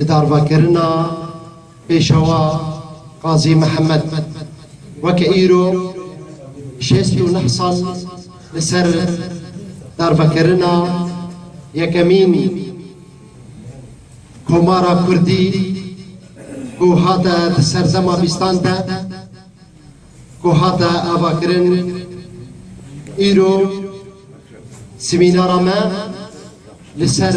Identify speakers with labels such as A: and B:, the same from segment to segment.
A: Bi darvakirina pêşewa Qazî Mihemed weke îro şêst û neh sal li ser darvekirina yekemîn komara kurdî ku hate di serdema bîstan de ku hate avakirin îro semînara me li ser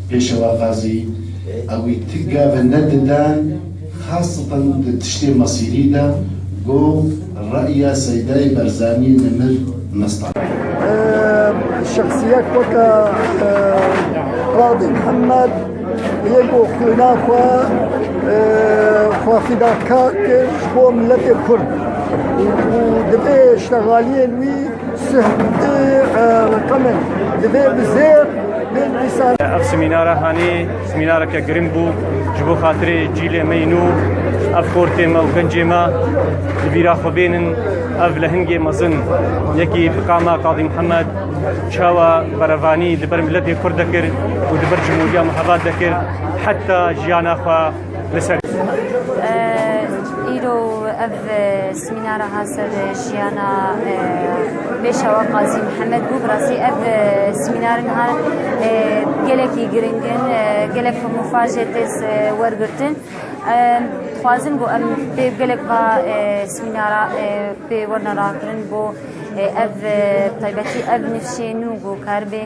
B: Pêşewa Xazî, ewî ti gave ne didan, xaseten di tiştê Masîrî de, got, Re'ya Seydayê Berzanî Nemir Mestan. Şexsiyek
C: weke Qadî Mihemed yê ku xwîna xwe xwefîdakar kir ji bo miletê Kurd û divê ştegaliyên wî
D: Ev semînara hanê semînareke giring bû ji bo xatirê cîlê me yî nû ev xortê me û gencê me li bîra xwe bênin ev lehingê mezin yekî bi qama Qadî Mihemed çawa berevanî li ber miletê Kurd dekir û li ber Cumhuriya Mihebat dekir heta jiyana xwe li ser Îro
E: ev semînara hat ser jiyana pêşewa Qazî Mihemed bû. Bi rastî ev semînarin han gelekî giring in, gelek hemûfa jê têz wergirtin. Dixwazin ku em pê gelek va semînara pê werna rakirin bo ev taybetî ev nifşê nû ku karibê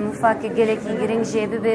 E: mûfak gelekî giring jê bibe.